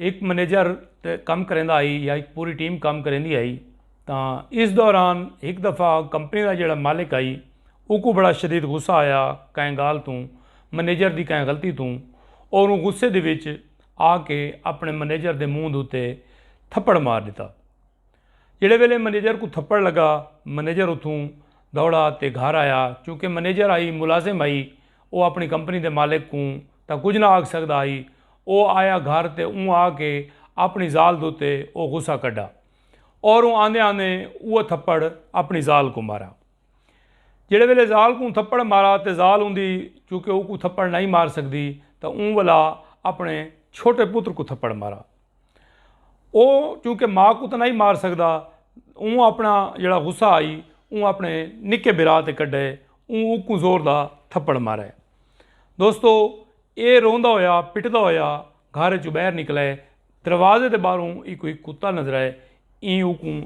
ہک منیجر تے کم کریندا ہئی یا ہک پوری ٹیم کم کریندی ہئی تاں اس دوران ہک دفعہ کمپنی دا جیڑھا مالک ہئی اوکوں بڑا شدید غصہ آیا کہیں گالھ توں منیجر دی کہیں غلطی توں اور اوں غصے دے وچ آ کے اپنے منیجر دے منہ دے اتے تھپڑ مار ݙتا جیڑھے ویلے منیجر کوں تھپڑ لگا منیجر اتھوں دوڑا تے گھر آیا چونکہ منیجر ہئی ملازم ہئی او اپنی کمپنی دے مالک کوں تاں کجھ نہ آکھ سگدا ہئی۔ او آیا گھر تے اوں آ کے اپݨی ذال دتے او غصہ کڈھا۔ اوروں آندے آندے اوہ تھپڑ اپݨی ذال کوں مارا۔ جیڑھے ویلے ذال کوں تھپڑ مارا تے ذال اوندی چونکہ اوکوں تھپڑ نہ ہئی مار سگدی تاں اوں ولا اپݨے چھوٹے پتر کوں تھپڑ مارا۔ او چونکہ ماں کو تاں نئیں مار سگدا اوں اپنا جیڑا غصہ ہئی اوں اپنے نکے بھرا تے کڈھے اوں اوکوں زور دا تھپڑ مارے۔ دوستو اے روندا ہویا پٹدا ہویا گھر اچوں باہر نکلے دروازے دے باہروں ایکوں ہک کتا نظر آئے ایں اوکوں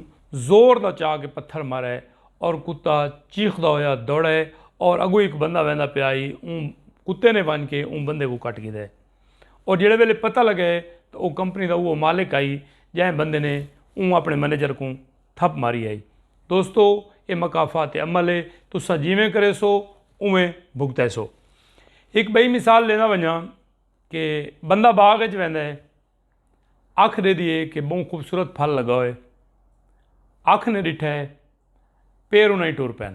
زور دا چا کے پتھر مارے اور کتا چیخدا ہویا دوڑے اور اگوں ہک بندہ ویندا پیا ہئی اوں کتے نے ونج کے اوں بندے کوں کٹ گھیدے۔ او جیڑھے ویلے پتہ لگے تاں او کمپنی دا اوہو مالک ہئی جئیں بندے نے اوں اپݨے منیجر کوں تھپ ماری ہئی۔ دوستو اے مکافات عمل ہے تساں جیویں کریسو اونویں بھگتیسو۔ ہک ٻئی مثال ݙیندا ونڄاں کہ بندہ باغ اچ ویندا ہے اکھ ݙیدھی ہے کہ ٻہوں خوبصورت پھل لڳا ہوئے اکھ نے ݙٹھا ہے پیر انہاں ہی ٹر پئن۔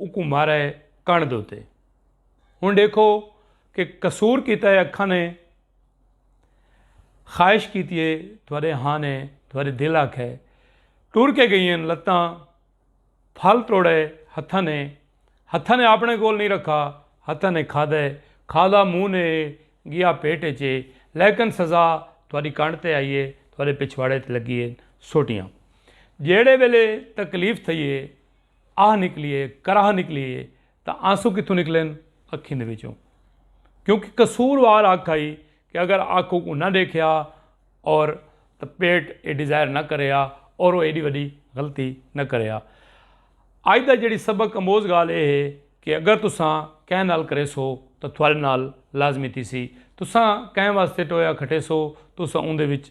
اکوں مارے کن دوتے ہوں دیکھو کہ قصور کیتا ہے اکھاں نے خواہش کیتی ہے تھوڑے ہاں نے تھوڑے دل آکھ ہے ٹور کے گئی ہیں لتاں پھل توڑے ہتھاں نے ہتھاں نے اپنے کول نہیں رکھا ہتھاں نے کھا دے کھا دا منہ نے گیا پیٹ چے لیکن سزا تھوڑی کن تے آئی ہے تھوڑے پچھواڑے تے لگی ہے سوٹیاں جیڑے ویلے تکلیف تھئی ہے آہ نکلیے کراہ نکلیے تاں آنسو کتھوں نکلن اکھیں دے وچوں کیونکہ قصور وار اکھ آئی کہ اگر اکھ اوکوں نہ ڈیکھیا اور تاں پیٹ اے ڈیزائر نہ کریا اور او ایڈی وڈی غلطی نہ کریا اج دا جیڑی سبق اموز گال اے ہے کہ اگر تساں کہیں نال کریسو تاں تھوڑے نال لازمی تھیسی تساں کہیں واسطے ٹویا کھٹیسو تساں اوندے وچ